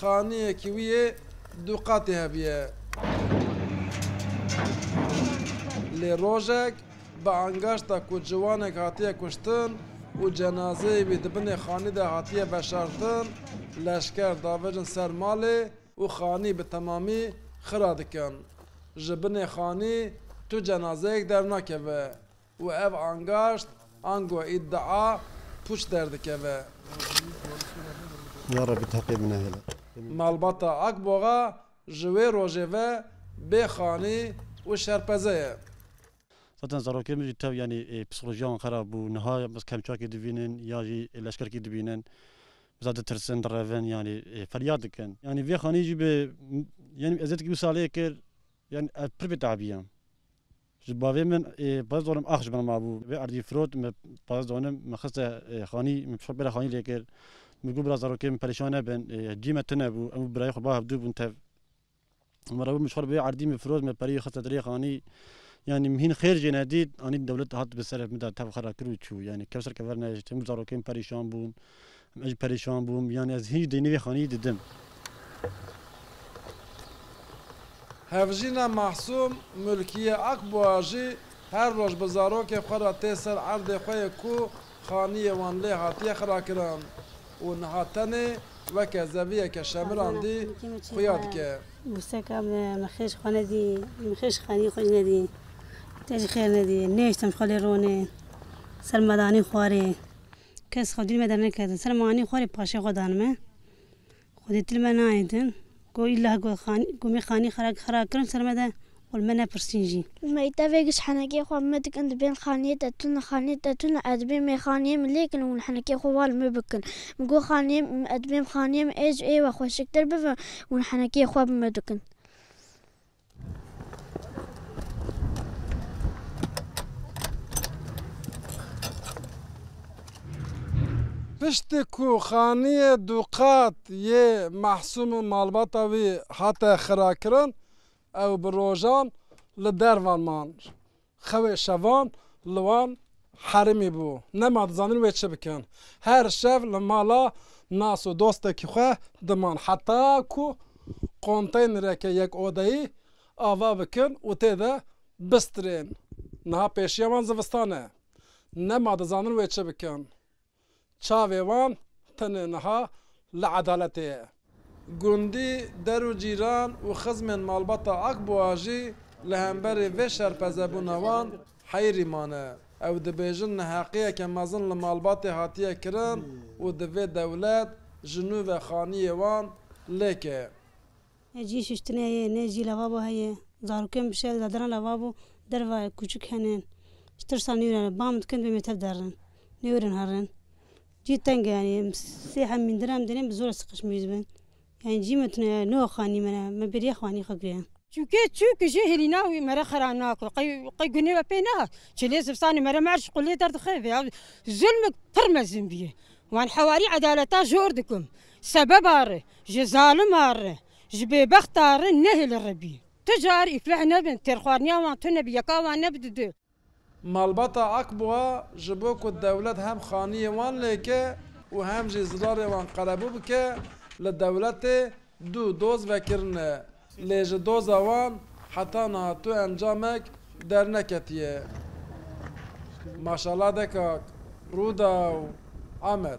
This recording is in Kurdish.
Xaneyekî wî yê du qatê heviye. Lê rojek bi angaşta ku ciwanek hatiye kuştin û cenazeyê wî di binê xanî de hatiye veşartin, leşker davêjin ser malê û xanî bi temamî xira dikin. Ji binê xanî tu cenazeyek dernakeve. Û ev angaşt, ango îdia, pûç derdikeve. Ya Rebî tu heqê min nehêle. Malbata Akboxa ji wê rojê ve bê xanî û şerpeze ye. Zaten zarokên min jî tev yanî psîkolojiya wan xerab bû. Niha biz kemçakî dibînin ya jî leşkerkî dibînin. Bi zad ditirsin, direvin yanî feryad dikin. Yanî vê xanî jî bi yanî eziyetekî wî salê kir. Yanî ez pir bêtabî yam. Ji bavê min ê pez donim ax ji min mabû. Vê erdî firot min pez donim min xiste xanî. Min pişxwe pêra xanî lê kir. Min got bira zarokê min perêşan nebin. Cî me tune bû. Em û birayê xwe bav dû bûn tev. Min re got min ji xwe re vê erdî min firot min pereyê xiste dilê xanî. Yanî min hîn xêr jê nedît. Anî dewlet hat bi ser min de tev xera kir û çû. Yanî kev ser kever nejît. Em û zarokê min perêşan bûn. Ez jî perêşan bûm, yanî ez hîn jî deynê vê xanîyî didim. Hevjîna Mahsûm Mulkiye Akboa jî her roj bi zarokê xwe re tê ser erdê xwe yê ku xanîyê wan lê hatiye xirakirin û niha tenê weke zeviyeke şemirandî xuya dike. Wuseka min xêj xwe nedî, min xêj xanîyê xwe jî nedî. Te jî xêr nedî. Nehiştim ji xwe lê ronê. Sermedanî xwarê. Kes xwe dîl me derneketin. Ser ma anî xwe rê paşê xwe dan me. Xwe dê dîl me nayên din. Ku îllah ku xanî ku me xanî xera xera kirin ser me de û li me nepirsîn jî. Umeyî tevê giş henekê xwe me dikin di bên xaniyê de tune xaniyê de tune ez dibê me xaniyê min lê kin û hûn henekê xwe wa li me bikin. Min got xaniyê min ez dibêm xaniyê min ê ji ê ve xweşiktir bibe û hûn henekê xwe bi me dikin. Piştî ku xaniyê du qat yê Mahsûm û malbata wî hate xirakirin, ew bi rojan li dervan man. Xewê şevan li wan herêmî bû. Nema dizanin wê çi bikin. Her şev li mala nas û dostekî xwe diman. Heta ku konteynereke yek odeyî ava bikin û tê de bistirên. Niha pêşiya wan zivistan e. Nema dizanin wê çi bikin. Çavê wan tenê niha li edaletê ye. Gundî der û cîran û xizmên malbata Akbûa jî li hemberî vê şerpezebûna wan heyrî mane. Ew dibêjin neheqiyeke mezin li malbatê hatiye kirin û divê dewlet ji nû ve xaniyê wan lêke. Ne cihê şiştinê heye, ne jî levabo heye. Zarokên bi şer zedana levabo derve kûçik hene. Ji tirsa nû re bang dikin dibê mêrtev derin. Nêwerin herin. Cî teng e yanî em sê hem mîndin em dêrên bi zor re siqişmî dibin. Yanî cî me tune ye nuha xanî me re. Me bêriya xanî xwe kiriye. Çûkê çûk jî hêlîna wî me re xera nake. Qey qey gunê we pê nehat. Çilê zivistanê me re me erş qulê derdixev. Ya zulm pir mezin bûye. Wan hewarî edaleta jor dikim. Sebeba ri, ji zalima ri, ji bêbexta ri nehê li ri bî. Tu car îfleh nebin, têrxwarniya wan tu nebî, yeka wan nebi di du. Malbata Akbûa ji bo ku dewlet hem xaniyê wan lêke û hem jî zilarê wan qerebû bike li dewletê du doz vekirine Lê ji doza wan heta niha tu encamek derneketiye. Maşallah de kak. Rûdaw, Amed.